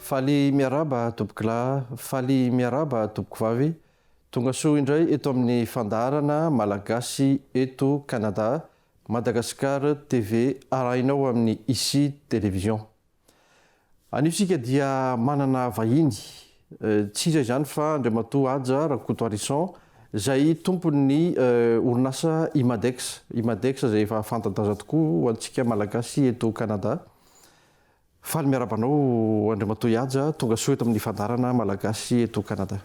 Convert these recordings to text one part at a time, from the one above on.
Faly miarahaba tompokolahy, faly miarahaba tompokovavy, tonga soa indray eto amin'ny fandaharana Malagasy eto Canada, Madagascar TV arahinao amin'ny Ici Télévision. Anio isika dia manana vahiny, tsy iza izany fa Andriamatoa Haja Rakotoarison izay tompon'ny orinasa Imadex, Imadex izay efa fanta-daza tokoa ho antsika Malagasy eto Canada. Faly miarahaba anao Andriamatoa Ihaja, tonga soa eto amin'ny fandaharana Malagasy eto Canada.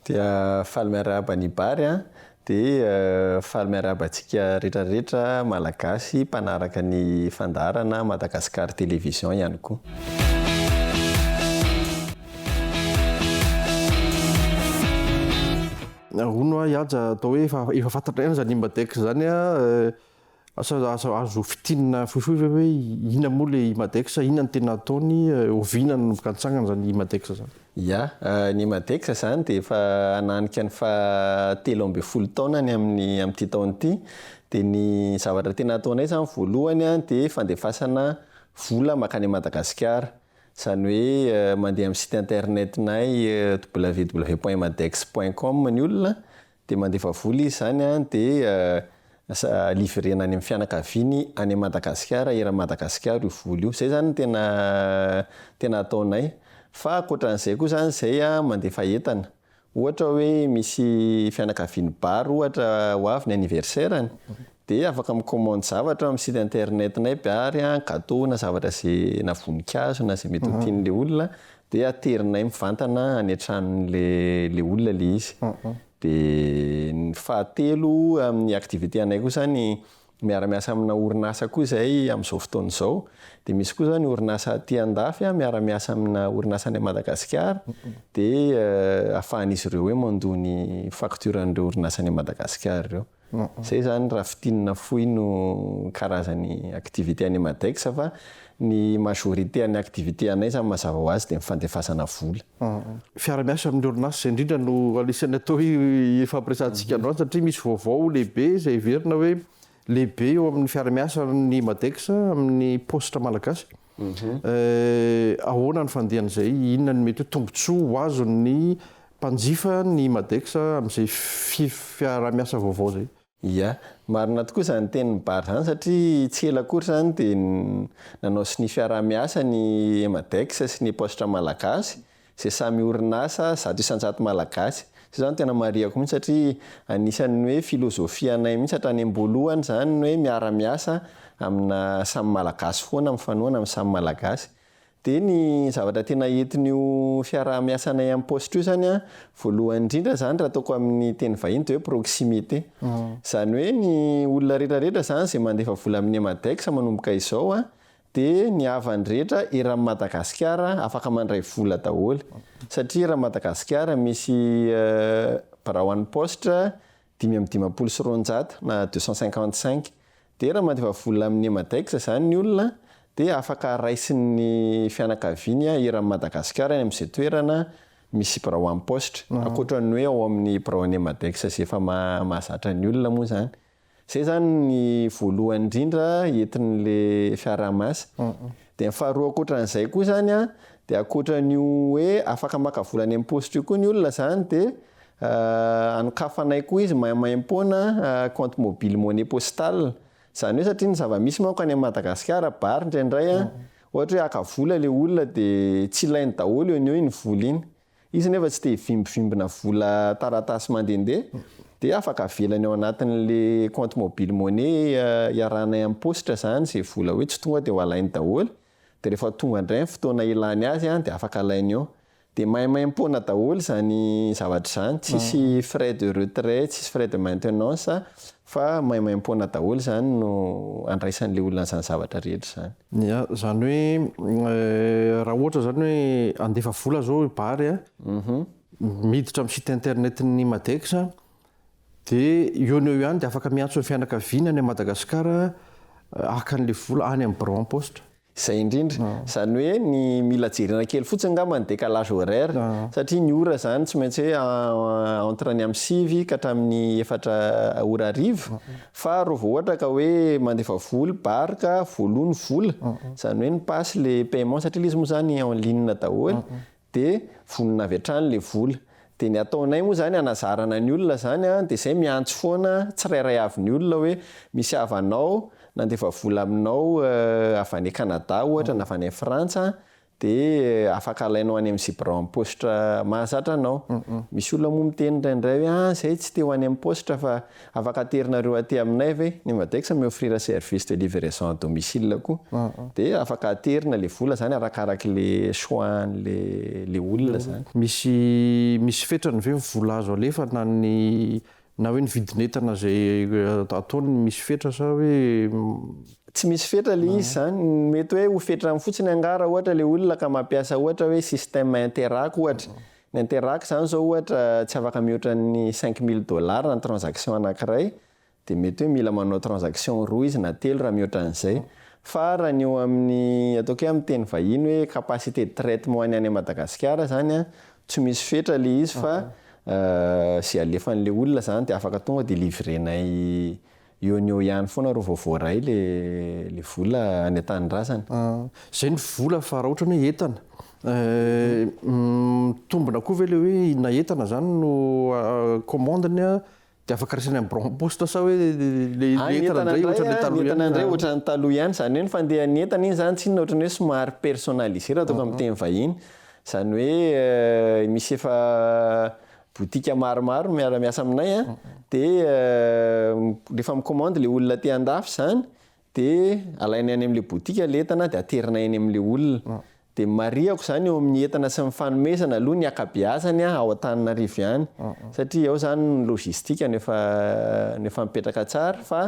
Dia faly miarahaba an'i Bary an! Dia faly miarahaba antsika rehetra rehetra Malagasy mpanaraka ny fandaharana Madagascar Television ihany koa. Hono hoa Ihaja atao hoe efa efa fantatr'aina zany Imbadex zany an! Asa aza azo fintinina fohifohy ve hoe inona moa le Imadex, inona no tena ataony, oviana no mikatsangana izany Imadex izany? Ya, ny Imadex izany dia efa hananika ny faha telo ambin'ny folo taonany amin'ny amin'ity taona ity, dia ny zavatra tena ataonay izany voalohany an dia fandefasana vola makany an'i Madagasikara, izany hoe mandeha amin'ny site internet-nay www.imadex.com ny olona Dia mandefa vola izy izany an, dia livrena any amin'ny fianakaviany any Madagasikara, eran'i Madagasikara io vola io. Izay izany no tena tena ataonay. Fa ankoatran'izay koa izany izay an, mandefa entana. Ohatra hoe misy fianakavian'i Bary ohatra ho avy ny anniversaire-ny, dia afaka mi-commande zavatra amin'ny site internet-nay Bary an, gateau na zavatra izay, na voninkazo na izay mety ho tian'ilay olona, Dia aterinay mivantana any an-tranon'le le olona le izy. Dia ny fahatelo amin'ny activité anay koa zany miara-miasa amina orinasa koa zay amin'izao fotoana izao. Dia misy koa zao ny orinasa aty an-dafy a miara-miasa amina orinasa any Madagasikara dia ahafahan'izy ireo hoe mandoa ny facture an'ireo orinasa any Madagasikara ireo. Zay zany raha fintinina fohy no karazany activité any Madex fa ny majorité any activité anay zany mazava ho azy de ny fandefasana vola. Fiara miasa amin'ny orinasa zay indrindra no anisan'ny atao hoe ifampiresahantsika androany satria misy vaovao lehibe zay heverina hoe lehibe eo amin'ny fiara miasa ny Madex amin'ny paositra malagasy. Ahoana ny fandehan'izay? Inona ny mety ho tombontsoa ho azon'ny mpanjifa ny Madex amin'izay fiarahamiasa vaovao izay? Ia. Marina tokoa izany tenin'i Bary izany satria tsy ela akory izany dia nanao sonia fiarahamiasa ny Emadex sy ny Epaositra Malagasy izay samy orinasa zato isan-jato malagasy. Izay izany tena marihako mihitsy satria anisan'ny hoe filozofianay mihitsy hatrany am-boalohany izany ny hoe miara-miasa amina samy malagasy foana, mifanohana amin'ny samy malagasy. Dia ny zavatra tena entin'io fiaraha-miasanay amin'ny paositra io izany an, voalohany indrindra izany raha ataoko amin'ny teny vahiny dia hoe proximité. Izany hoe ny olona rehetra rehetra izany izay mandefa vola amin'ny Emadex manomboka izao an, dia ny havany rehetra eran'ny Madagasikara afaka mandray vola daholo satria eran'ny Madagasikara misy birao an'ny paositra dimy amby dimampolo sy roanjato na deux cent cinquante cinq dia raha mandefa vola amin'ny Emadex izany ny olona dia afaka raisin'ny fianakaviany eran'ny Madagasikara any amin'izay toerana misy birao an'ny paositra ankoatra ny hoe ao amin'ny biraon'ny Emadex izay efa mahazatra ny olona moa izany. Zay zany ny voalohany indrindra entin'le fiaraha-miasa. Dia ny faharoa ankoatran'izay koa zany an, dia ankoatran'io hoe afaka maka vola any am-paositra io koa ny olona zany dia anokafanay koa izy maimaimpoana compte mobile monnaie postal. Zany hoe satria ny zava-misy manko any Madagasikara bary indraindray an, ohatra hoe haka vola le olona dia tsy ilainy daholo eo no eo iny vola iny. Izy anefa tsy te hivimbivimbina vola taratasy mandehandeha dia afaka avelany ao anatin'le compte mobile money iarahanay amin'ny paositra izany izay vola hoe tsy tonga dia ho alainy daholo dia rehefa tonga indray ny fotoana hilany azy dia afaka alainy eo dia maimaimpoana daholo izany zavatra izany tsisy frais de retrait tsisy frais de maintenance Fa maimaimpoana daholo izany no andraisan'ilay olona an'izany zavatra rehetra izany. Ia, izany hoe raha ohatra izany hoe handefa vola izao i Bary a, miditra amin'ny site internet-n'ny Madex dia eo no eo ihany dia afaka miantso ny fianakaviana any Madagasikara haka an'ilay vola any amin'ny Bureau en poste. Izay indrindra. Izany hoe ny mila jerena kely fotsiny angamba ny décalage horaire satria ny ora izany tsy maintsy hoe entre ny amin'ny sivy ka hatramin'ny efatra ora hariva fa raha vao ohatra ka hoe mandefa vola, bar, ka voaloa ny vola, izany hoe ny pass, ilay paiement satria ilay izy moa izany en ligne daholo, de vonona avy hatrany le vola, de ny ataonay moa zany anazarana ny olona zany a, de zay miantso foana tsirairay avy ny olona hoe misy havanao nandefa vola aminao avy any Canada ohatra na avy any Frantsa de afaka alainao any amin'ny zebra amin'ny paositra mahazatra anao, misy olona moa miteny indraindray hoe ah zay tsy te ho any amin'ny paositra fa Afaka aterinareo aty aminay ve? Ny Madexa mi-offrir service de livraison à domicile koa. Dia afaka aterina ilay vola izany arakaraka ilay choix an'ilay olona izany. Misy misy fetrany ve ny vola azo alefa na ny na hoe ny vidin'entana izay ataony misy fetra sa hoe. Tsy misy fetra ilay izy izany. Mety hoe ho fetrany fotsiny angaha raha ohatra ilay olona ka mampiasa ohatra hoe système Interac ohatra. Ny interac zany zao ohatra tsy afaka mihoatra ny cinq mille dollars ny transaction anankiray dia mety hoe mila manao transaction roa izy na telo raha mihoatra an'izay fa raha ny eo amin'ny ataoko hoe amin'ny teny vahiny hoe capacité de traitement any any Madagasikara zany an tsy misy fetra le izy fa ze alefan'le olona zany dia afaka tonga dia livrer-nay Eo no eo ihany foana ro vao voaray le le vola any an-tanindrazana. Ah, zay ny vola fa raha otrany hoe entana eh, mitombina koa ve le hoe na entana zany no commande-ny ah de afaka raisina any Bron Poste sa hoe le ah, entana ndray otrany le taloha ihany, entana ndray otrany taloha ihany, zany hoe ny fandehan'ny entana iny zany tsinona otrany hoe somary personnalisé raha atao amin'ny teny vahiny, zany hoe eh, misy efa Boutique maromaro miara miasa aminay a, de refa mi-commande le olona aty andafy zany de alainay any amle boutique le entana de aterinay any amle olona, de marihako zany eo amin'ny entana sy ny fanomezana aloha ny akabeazany a ao Antananarivo ihany satria ao zany ny logistique no efa no efa mipetraka tsara fa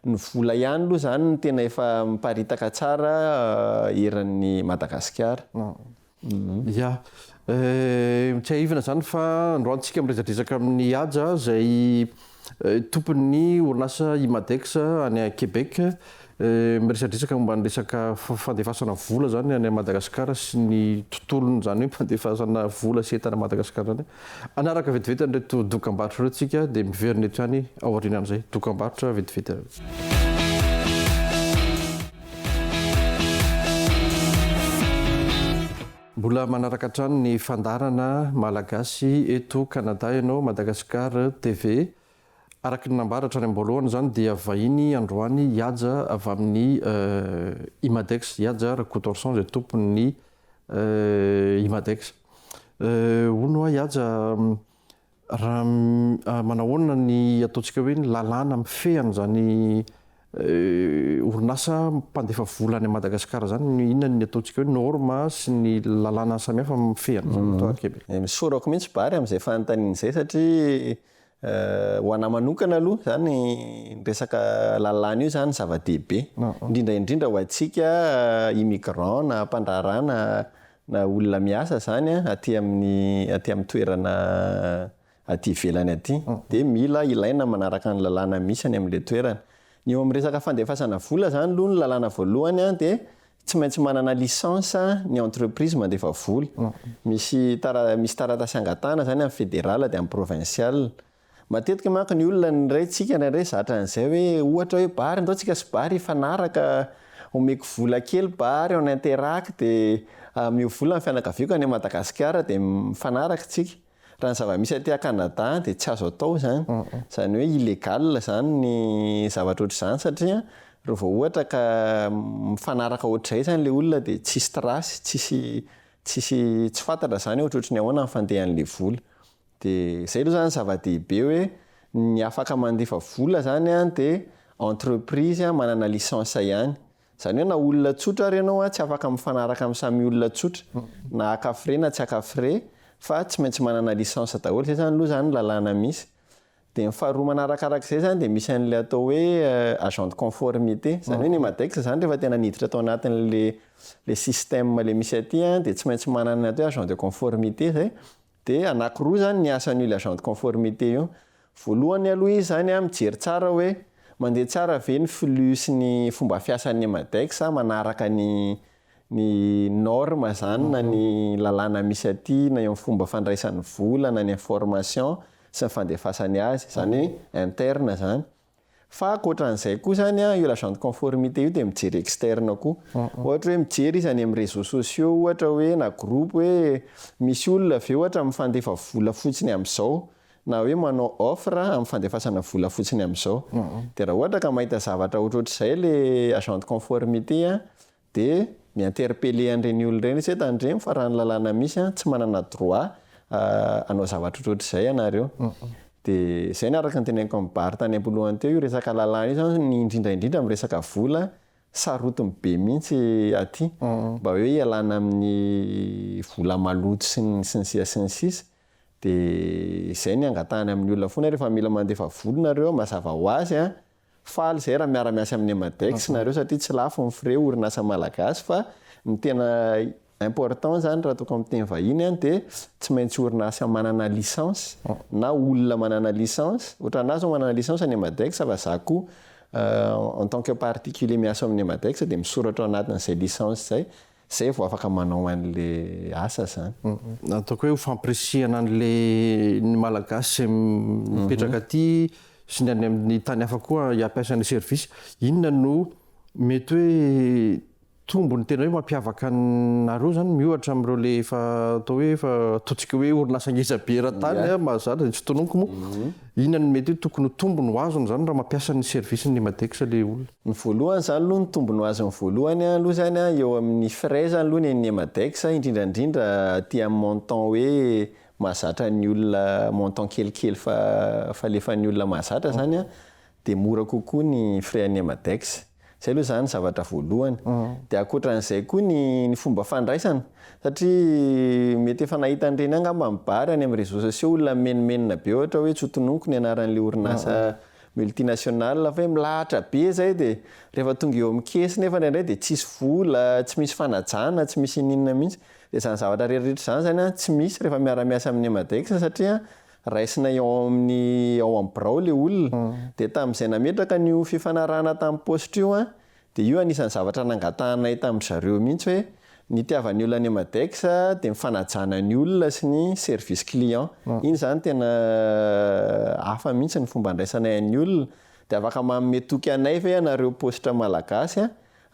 ny vola ihany aloha zany no tena efa miparitaka tsara eran'ny Madagasikara. Ya. Eh, tsiahivina izany fa androany tsika miresadresaka amin'i Haja izay tompon'ny orinasa Imadex any Québec. Eh, miresadresaka momba ny resaka fandefasana vola izany any Madagasikara sy ny tontolon'izany hoe fandefasana vola sy entana Madagasikara izany. Hanaraka vetivety an'ireto dokambarotra ireo isika dia miverina hatrany aorianan'izay dokambarotra vetivety ireo. Mbola manaraka hatrany ny fandaharana Malagasy eto Kanada ianao, Madagascar TV. Araka ny nambara hatrany am-boalohany izany dia vahiny androany Ihaja avy amin'ny eh, Imadex, Ihaja Rakotoarison izay tompon'ny Eh, i Madex. Eh, hono hoa i Haja, raha manahoana ny ataontsika hoe ny lalàna mifehy an'izany eh, orinasa mpandefa vola any Madagasikara izany, ny inona ny ataontsika hoe norme sy ny lalàna samihafa mifehy an'izany, mhm. Toa Québec. Eh, misorako mihitsy Bary amin'izay fanontaniana izay satria Ho anah manokana aloha izany ny resaka lalàna io izany zava-dehibe. Indrindra indrindra ho antsika immigrants na mpandraharaha na na olona miasa izany an, aty amin'ny aty amin'ny toerana aty ivelany aty. Dia mila ilaina ny manaraka ny lalàna misy any amin'ilay toerana. Ny eo amin'ny resaka fandefasana vola izany aloha ny lalàna voalohany an dia Tsy maintsy manana licence ny entreprise mandefa vola. Misy tara misy taratasy angatahana izany amin'ny federal dia amin'ny provincial. Matetika manko ny olona ny ray tsika indraindray zatra an'izay hoe ohatra hoe bary ndao tsika sy bary hifanaraka omeko vola kely bary on interact dia mivola ny fianakaviako any Madagasikara dia mifanaraka tsika. Raha ny zava-misy aty à Canada dia tsy azo atao izany, izany hoe illégal izany ny zavatra ohatr'izany satria raha vao ohatra ka mifanaraka ohatr'izay izany ilay olona dia tsisy trace, tsisy tsisy tsy fantatra izany hoe ohatrohatry ny ahoana ny fandehan'ilay vola. Dia izay aloha izany ny zava-dehibe hoe ny afaka mandefa vola izany dia entreprise manana licence ihany, Izany hoe na olona tsotra ary ianao tsy afaka mifanaraka amin'ny samy olona tsotra na haka frais na tsy haka frais fa tsy maintsy manana licence daholo, izay izany aloha izany ny lalàna misy. Dia ny faharoa manarakaraka izay izany dia misy an'ilay atao hoe agent de conformité, izany hoe ny Madex izany rehefa tena niditra tao anatin'ilay ilay système ilay misy aty dia tsy maintsy manana ny atao hoe agent de conformité izay, Dia anakiroa izany ny asan'io le agent de conformité io. Voalohany aloha izy izany mijery tsara hoe mandeha tsara ve ny flux sy ny fomba fiasan'ny Emadex manaraka ny ny norme izany na ny lalàna misy aty na eo amin'ny fomba fandraisan'ny vola na ny information sy ny fandefasany azy. Izany hoe interne izany. Fa ankoatra an'izay koa izany an, io l'agent de conformité io dia mijery externe koa. Ohatra hoe mijery izy any amin'ny réseaux sociaux ohatra hoe na groupe hoe misy olona ve ohatra mifandefa vola fotsiny amin'izao na hoe manao offre amin'ny fandefasana vola fotsiny amin'izao. Dia raha ohatra ka mahita zavatra ohatrohatr'izay ilay agent de conformité an, de mi interpeller an'ireny olona ireny izy hoe tandremo fa raha ny lalàna misy an tsy manana droit hanao zavatra ohatrohatr'izay ianareo de izay no araka ny teneniko an'i Bary tany am-polohany teo io resaka lalàna io zany ny indrindra indrindra amin'ny resaka vola sarotiny be mihitsy aty mba hoe hialana amin'ny vola maloto sy ny sy ny sisa sy ny sisa de izay ny angatahana amin'ny olona foana rehefa mila mandefa vola nareo mazava ho azy an Faly zay raha miara miasa amin'ny Emadex nareo satria tsy lafo ny frais orinasa malagasy fa ny tena important zany raha toa ka miteny vahiny an dia tsy maintsy orinasa manana licence na olona manana licence ohatra anah zao manana licence ny Emadex fa za koa en tant que particulier miasa ao amin'ny Emadex dia misoratra ao anatin'izay licence izay Zay vao afaka manao anle asa zany. Ataoko hoe ho fampirisihana anle ny malagasy izay mipetraka aty sy ny any amin'ny tany hafa koa hampiasa ny service. Inona no mety hoe tombony tena hoe mampiavaka anareo zany miohatra amin'ireo le efa atao hoe efa ataontsika hoe orinasa ngeza be eran-tany mahazatra izay tsy tononiko moa. Inona no mety hoe tokony ho tombony ho azony zany raha mampiasa ny service ny Madex le olona? Ny voalohany zany aloha ny tombony ho azony voalohany aloha zany an eo amin'ny frais zany aloha ny an'ny Madex indrindra indrindra aty amin'ny montant hoe mahazatra ny olona montant kelikely fa falefan'ny olona mahazatra zany an dia mora kokoa ny frais an'ny Madex. Zay aloha zany zavatra voalohany. Dia ankoatran'izay koa ny ny fomba fandraisana satria mety efa nahita an'ireny angamba ny bary any amin'ny réseaux sociaux olona mimenomenona be ohatra hoe tsy ho tononiko ny anaran'ilay orinasa multinationale fa hoe milahatra be zay dia rehefa tonga eo amin'ny caisse nefa indraindray dia tsisy vola, tsy misy fanajana, tsy misy inona inona mihitsy. Dia izany zavatra rehetra rehetra izany zany an tsy misy rehefa miara-miasa amin'ny Emadex satria Raisina eo amin'ny ao amin'ny birao ilay olona. Dia tamin'izay nametraka an'io fifanarahana tamin'ny paositra io aho, dia io anisan'ny zavatra nangatahanay tamin-dry zareo mihitsy hoe, nitiavan'ny olona any Madex dia ny fanajana ny olona sy ny service client. Iny izany tena hafa mihitsy ny fomba andraisanay an'ny olona. Dia afaka manome toky anay ve ianareo paositra malagasy?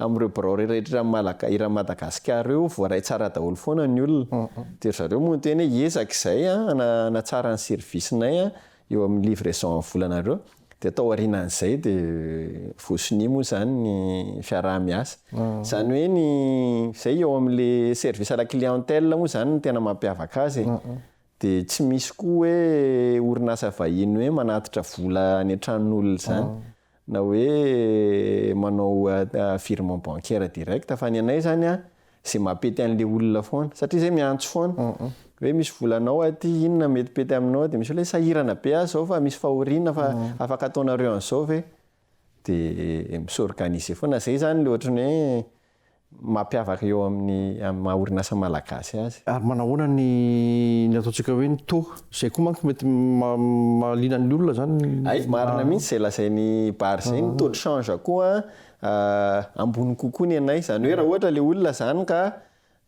Amin'ireo birao rehetra iran'i Madagasikara ireo voaray tsara daholo foana ny olona. Dia ry zareo moa niteny hoe hiezaka izahay hanatsara ny service-nay eo amin'ny livraison amin'ny volanareo. Dia tao aorianan'izay dia voasonia moa izany ny fiaraha-miasa. Izany hoe ny, izay eo amin'ilay service à la clientèle moa izany no tena mampiavaka azy e. Dia tsy misy koa hoe orinasa vahiny hoe manatitra vola any an-tranon'olona izany. na hoe manao virement bancaire direct fa ny anay zany a ze mapety anle olona foana satria zay miantso foana hoe misy vola anao aty inona mety pety aminao de misy olona hoe sahirana be aho zao fa misy fahoriana fa afaka ataonareo anzao ve de mi s'organiser foana zay zany le ohatran'ny hoe mampiavaka eo amin'ny amin'ny maha orinasa malagasy azy. Ary manahoana ny ny ataontsika hoe ny taux? Izay koa manko mety mahaliana ny olona izany. Hay, marina mihitsy izay lazain'i Bary izay, ny taux de change koa ambony kokoa ny anay. Izany hoe raha ohatra ilay olona izany ka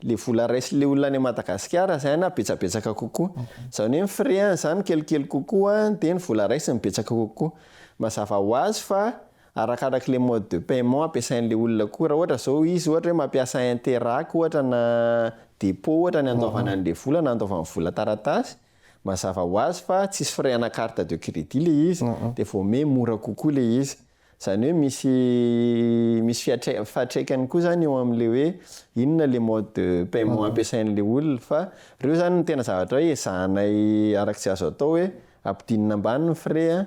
ilay vola raisin'ilay olona any Madagasikara izay na betsabetsaka kokoa. Izany hoe ny frais-ny izany kelikely kokoa dia ny vola raisiny betsaka kokoa. Mazava ho azy fa Arakaraka le mode de paiement ampiasain'le olona koa, raha ohatra zao izy ohatra hoe mampiasa interac ohatra na depot ohatra ny andoavana an'le vola na andoavany vola taratasy, mazava ho azy fa tsisy frais ana carte de credit le izy de vao ome mora kokoa le izy. Zany hoe misy misy fiatraik- fiatraikany koa zany eo am'le hoe inona le mode de paiement ampiasain'le olona fa reo zany no tena zavatra hoe ezahanay arak'izay azo atao hoe ampidinina ambany ny frais a,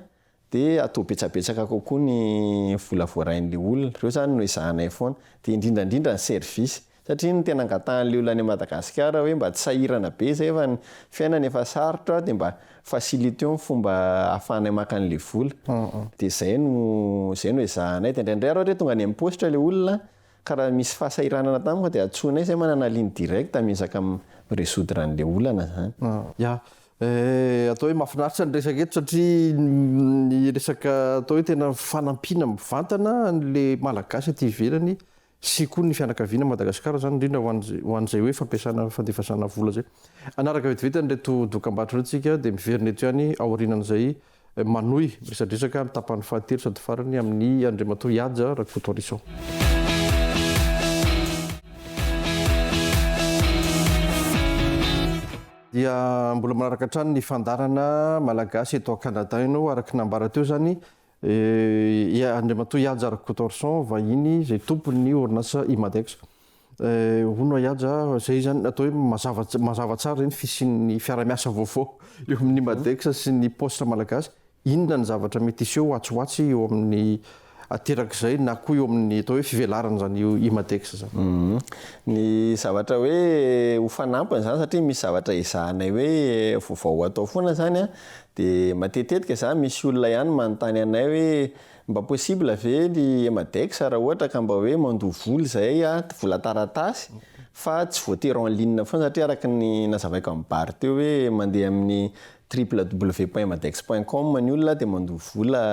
dia atao betsabetsaka kokoa ny vola voarain'ilay olona, ireo izany no ezahanay foana, dia indrindra indrindra ny service, satria ny tena angatahan'ilay olona any à Madagascar hoe mba tsy sahirana be izay fa ny fiainana efa sarotra dia mba faciliteo ny fomba ahafahanay maka an'ilay vola, dia izay no izay no ezahanay, dia indraindray ary ohatra hoe tonga any amin'ny paositra ilay olona ka raha misy fahasahiranana tampoka dia antsoinay izay manana ligne directe miezaka mi-resoudre an'ilay olana izany. Ya, Eh, atao hoe mahafinaritra ny resaka eto satria ny resaka atao hoe tena fanampiana mivantana an'le Malagasy aty ivelany sy koa ny fianakaviana Madagasikara izany indrindra ho an'izay hoe fampiasana fandefasana vola izay. Hanaraka vetivety an'ireto dokambarotra ireto isika dia miverina eto ihany aorianan'izay. Manohy miresadresaka ny tapany fahatelo sady farany amin'i Andriamatoa Ihaja Rakotoarison. dia mbola manaraka hatrany ny fandarana malagasy eto Canada ianao araka ny nambara teo izany eh, Andriamatoa Ihajara Cotorson vahiny izay tompon'ny orinasa Imadex. Hono Ahiaja, izay izany atao hoe mazava mazava tsara ireny fisian'ny fiara-miasa vaovao eo amin'ny Madex sy ny Poste Malagasy. Inona ny zavatra mety hiseho atsy ho atsy eo amin'ny aterak'izay na koa eo amin'ny atao hoe fivelaran' izany Imadex izany? Ny zavatra hoe ho fanampiny izany satria misy zavatra ezahanay hoe vaovao atao foana izany dia matetetika izany misy olona ihany manontany anay hoe Mba possible ve ny Emadex raha ohatra ka mba hoe mandoa vola izay a, vola taratasy fa tsy voatery en ligne foana satria araka ny nazavaiko amin'i Bary teo hoe mandeha amin'ny www.emadex.com ny olona dia mandoa vola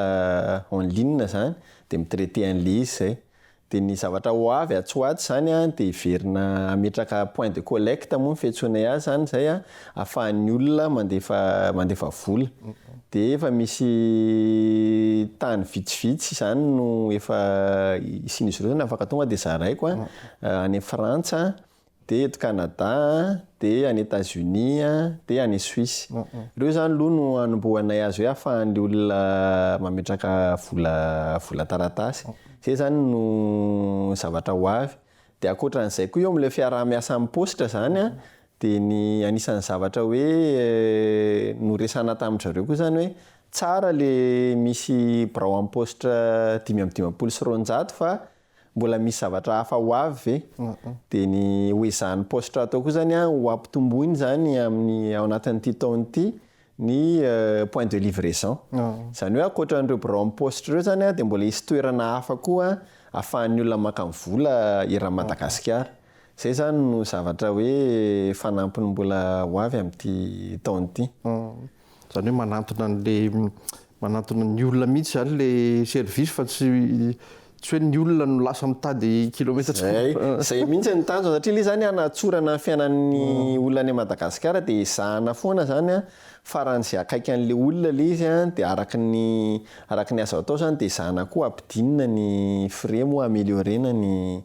en ligne izany dia mi-traiter an'ilay izy izay. Dia ny zavatra ho avy atsy ho atsy izany dia hiverina hametraka point de collecte moa ny fiantsoana azy izany izay ahafahan'ny olona mandefa mandefa vola. Dia efa misy tany vitsivitsy izany no efa isian'izy ireo afaka tonga dia zaraiko any Frantsa dia eto Canada dia any Etats Unis dia any Suisse ireo zany aloha no anombohanay azy hoe afahan'ny olona mametraka vola vola taratasy zay zany no zavatra ho avy dia ankoatran'izay koa eo amin'ilay fiaraha-miasa amin'ny paositra zany an dia ny anisan'ny zavatra hoe noresahana tamin-dry zareo koa zany hoe tsara le misy birao amin'ny paositra dimy amby dimampolo sy roanjato fa Mbola misy zavatra hafa ho avy ve? Dia ny ho ezahan'ny paositra hatao koa izany an, ho ampitomboina izany amin'ny, ao anatin'ity taona ity, ny point de livraison. Izany hoe ankoatra an'ireo biraon'ny paositra ireo izany an, dia mbola hisy toerana hafa koa ahafahan'ny olona maka ny vola eran'i Madagasikara. Izay izany no zavatra hoe fanampiny mbola ho avy amin'ity taona ity. Zany hoe manantona an'le manantona ny olona mihitsy zany le service fa tsy tsy hoe ny olona no lasa mitady kilometatra. Zay, zay mihitsy ny tanjona satria le zany hanatsorana ny fiainan'ny mm. olona any Madagasikara de ezahana foana zany a faran'izay akaiky an'le olona le izy a de araka ny araka ny azo atao zany de ezahana koa ampidinina ny frais moa ameliorer-na ny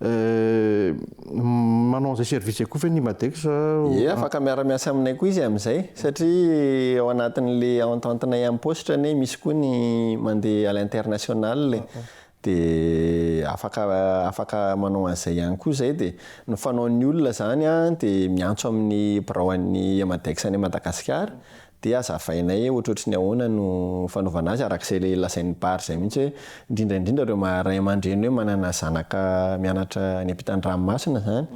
Euh, manao an'izay service izay koa ve ny Imadex? Ie, afaka miara-miasa aminay koa izy amin'izay, satria ao anatin'le entente-nay amin'ny paositra anie misy koa ny mandeha à l'international e. De afaka afaka manao an'izay ihany koa izay de ny fanaon'ny olona izany a de miantso amin'ny biraon'ny Imadex any Madagasikara Dia azavainay hoe ohatrohatry ny ahoana no fanaovana azy araka izay ilay lazain'i Barr izay mihitsy hoe indrindra indrindra ireo maha ray aman-dreny hoe manana zanaka mianatra any am-pitan-dranomasina izany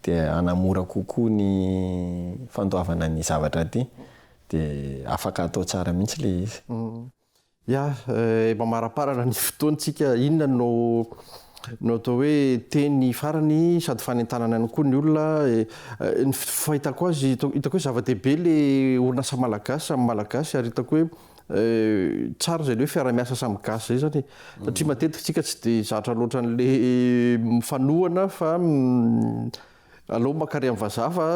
dia hanamora kokoa ny fandoavana ny zavatra aty dia afaka atao tsara mihitsy ilay izy. Ya, eh, mamaraparana ny fotoantsika. Inona no no atao hoe teny farany sady fanentanana ihany koa ny olona. Eh, ny fahitako azy, hitako hoe zava-dehibe le orinasa malagasy samy malagasy ary hitako hoe Euh, tsara izay hoe fiaramiasa samy gasy izay zany satria mm. matetika tsika tsy dia zatra loatra an'le mifanohana fa mm, alao makary amin'ny vazaha fa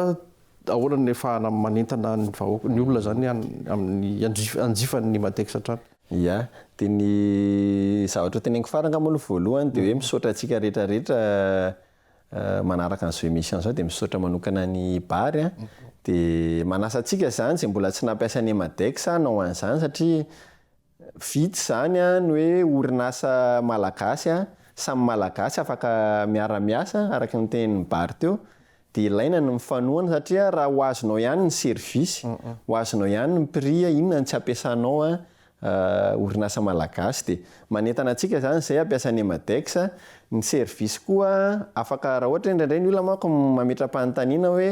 Ahoana ny afahana manentana ny vahoaka, ny olona zany amin'ny hanjifany ny Madex hatrany. Ya, dia ny zavatra hoteneniko farany angamba aloha voalohany dia hoe misaotra antsika rehetra rehetra manaraka an'izao emission izao dia misaotra manokana an'i Bary an, dia manasa antsika izany izay mbola tsy nampiasa ny Emadex hanao an'izany satria, Vitsy izany ny hoe orinasa malagasy, samy malagasy afaka miara-miasa araka ny tenin'i Bary teo, dia ilaina ny mifanohana satria raha ho azonao ihany ny service, ho azonao ihany ny prix, inona no tsy ampiasanao orinasa malagasy dia manentana antsika izany izay hampiasa ny Emadex, ny service koa afaka raha ohatra hoe indraindray ny olona manko mametra-panontaniana hoe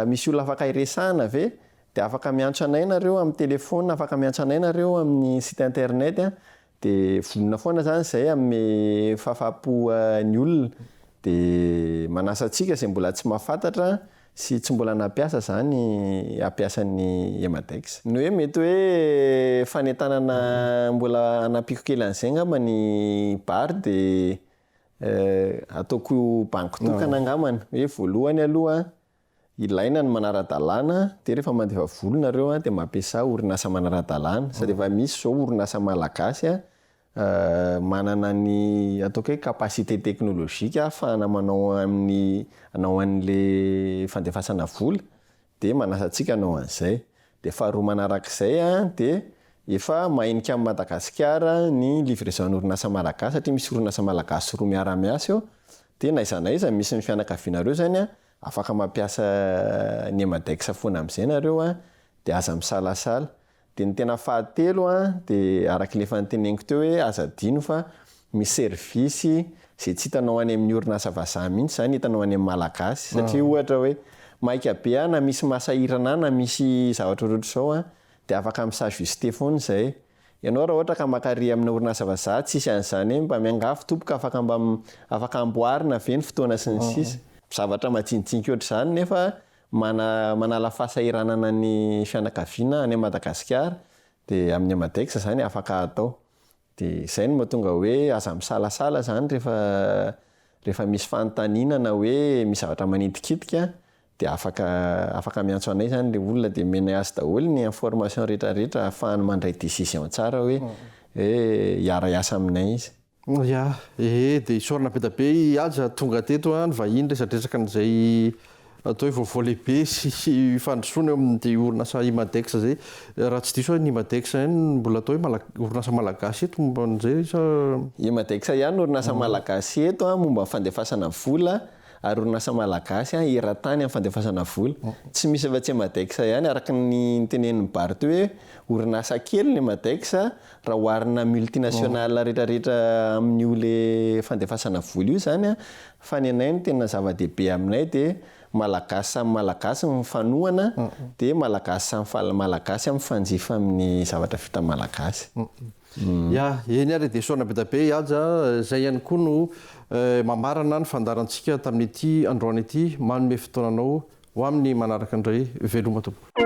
misy olona afaka hiresahana ve? Dia afaka miantsa anay nareo amin'ny telephone, afaka miantsa anay nareo amin'ny site internet an, dia vonona foana zany izay hanome fahafahampo ny olona, dia manasa antsika izay mbola tsy mahafantatra sy tsy mbola nampiasa zany hampiasa ny Emadex. Ny hoe mety hoe fanentanana mbola hanampiako kely an'izay angamba ny bar dia ataoko banky tokana angambany, hoe voalohany aloha Ilaina ny manara-dalàna dia rehefa mandefa vola nareo dia mampiasa orinasa manara-dalàna sady efa misy zao orinasa malagasy manana ny ataoko hoe capacité technologique ahafahana manao amin'ny anao an'le fandefasana vola dia manasa antsika hanao an'izay. Dia faharoa manarak'izay dia efa mahenika amin'i Madagasikara ny livraison-ny orinasa malagasy satria misy orinasa malagasy roa miara-miasa eo dia na aiza na aiza misy ny fianakavianareo zany afaka mampiasa ny Emadex foana amin'izay nareo dia aza misalasala. Dia ny tena fahatelo dia arak'ilay efa noteneniko teo hoe aza adino fa Misy servisy izay tsy hitanao any amin'ny orinasa vazaha mihitsy izany, hitanao any amin'ny malagasy. Satria ohatra hoe maika be aho na misy masahirana ahy na misy zavatra ohatrohatr'izao an, dia afaka mi-s'ajuster foana izay. Ianao raha ohatra ka maka-ry amina orinasa vazaha, tsisy an'izany hoe mba miangavy tompoko afaka mba afaka amboarina ve ny fotoana sy ny sisa. Zavatra majinijinika ohatr'izany nefa mana manala fahasahiranana ny fianakaviana any Madagasikara dia amin'ny Amadex izany afaka atao. Dia izay no mahatonga hoe aza misalasala izany rehefa rehefa misy fanontaniana na hoe misy zavatra manitikitika dia afaka afaka miantso anay izany ilay olona dia omenay azy daholo ny information rehetrarehetra ahafahany mandray decision tsara hoe hoe hiara hiasa aminay izy. Ya, ee dia isaorana be dia be i Haja tonga teto an, vahiny resadresaka an'izay Atao hoe vaovao lehibe sy fandrosoana eo amin'ity orinasa Imadex izay. Raha tsy diso aho, ny Imadex ihany no mbola atao hoe orinasa malagasy eto momba an'izay sa? Imadex ihany no orinasa malagasy eto momba ny fandefasana vola ary orinasa malagasy eran-tany amin'ny fandefasana vola. Tsy misy afa-tsy Imadex ihany, araka ny tenenin'i Bart hoe orinasa kely ny Imadex raha oharina multinationale rehetrarehetra amin'io le fandefasana vola io izany Fa ny anay ny tena zava-dehibe aminay dia Malagasy samy Malagasy mifanohana dia Malagasy samy Malagasy mifanjifa amin'ny zavatra vita Malagasy. Ya, eny ary dia soa nabedabe i Haja izay ihany koa no mamarana ny fandaharantsika tamin'ity androany ity, manome fotoana anao Ho amin'ny manaraka indray, veloma tompoko.